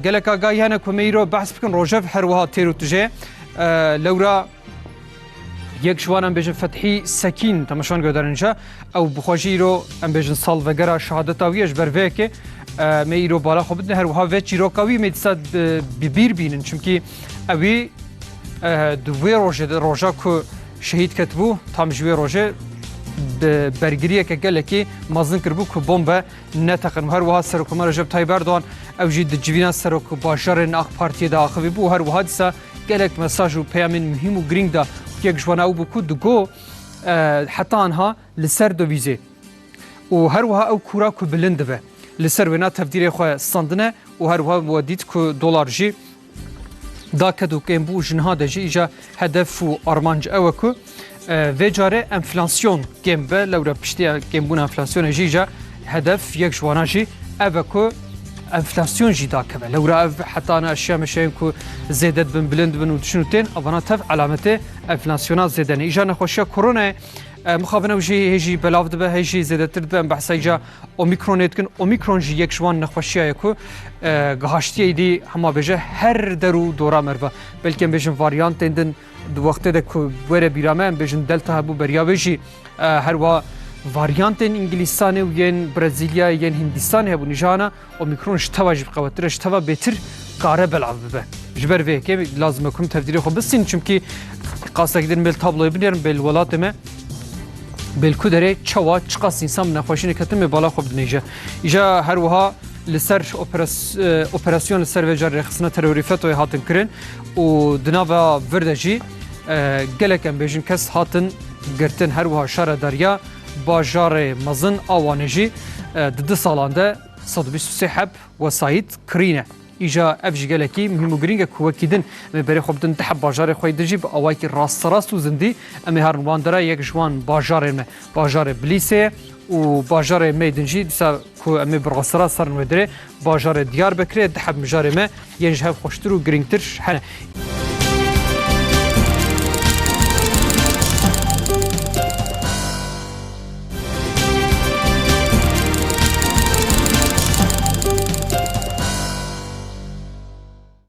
Gelek agahî hene ku me îro behs bikin rojev her wiha têr û tije lewra Yek ji wan em bêjin Fethî Sekîn temeşan guhdarin ca ew bi xwe jî îro em bêjin sal vegera şehadeta wî ye ji ber vê yekê me îro bala xwe bidin her wiha vê çîroka wî me dîsa bi bîr bînin çimkî ewî di wê rojê de roja ku şehîd ketibû tam ji wê rojê bi bergiriyeke gelekî mezin kiribû ku bombe neteqin û her wiha Serokomar Recep Tayyîp Erdogan ew jî di civîna serok bajarên AK Partiyê de axivî bû û her wiha dîsa Gelek mesaj û peyamên muhîm û girîng da. Yek ji wan ew bû ku digo heta anha li ser dovîzê û her wiha ew kûra ku bilind dibe li ser wêna tevdîrê xwe standine û her wiha we dît ku dolar jî da ked û kêm bû û ji niha de jî îja hedef û armanc ew e ku Vê carê enflasyon kêm be lewre piştiya kêmbûna enflasyonê jî ja hedef yek ji wanan jî ev e ku enflasyon jî dakeve. Lewra ev heta na eşya meşeyên ku zêde dibin bilind dibin û diçin û tên evana tev alametê enflasyona zêde ne. Îja nexweşiya koronayê mixabin ew jî hê jî belav dibe hê jî zêdetir dibe em behsa îja omîkronê dikin. Omîkron jî yek ji wan nexweşiya ye ku gihaştiyê dî hema bêje her der û dora meriva. Belkêm bêjin varyantên din Di wextê de ku were bîra me em bêjin Delta hebû beriya wê jî her wa varyantên Îngilîzstanê û yên Brezîlyayê yên Hîndîstanê hebû nîjana Omîkron ji teva jî biqewetir e ji teva bêtir kare belav bibe. Ji ber vê yekê lazim e ku em tevdîrê xwe bistînin çimkî qastekî din mêl tabloyê binêrin bê li welatê me bê li ku derê çawa çiqas însan bi nexweşî neketin bê bala xwe bidinêje. Îja her wiha li ser operasyon li ser vê car rêxistina terorî FETO'yê hatin kirin. û di nava vir de jî gelek em bêjin kes hatin girtin her wiha şare derya bajarê mezin a Wanê jî di du salan de sed û bîst û sê heb wesayît kirîne. Îja ev jî gelekî muhîm û girîng e ku wekî din em ê berê xwe bidin di heb bajarê xwe yê din jî bi awayekî rasterast û zindî em ê herin wan de re yek ji wan bajarên me bajarê Bilîsê ye û bajarê me yê din jî dîsa Ku em ê bi rastira serin wê dirê bajarê Diyarbekirê di hevmijarê me yên ji hev xweştir û girîngtir hene.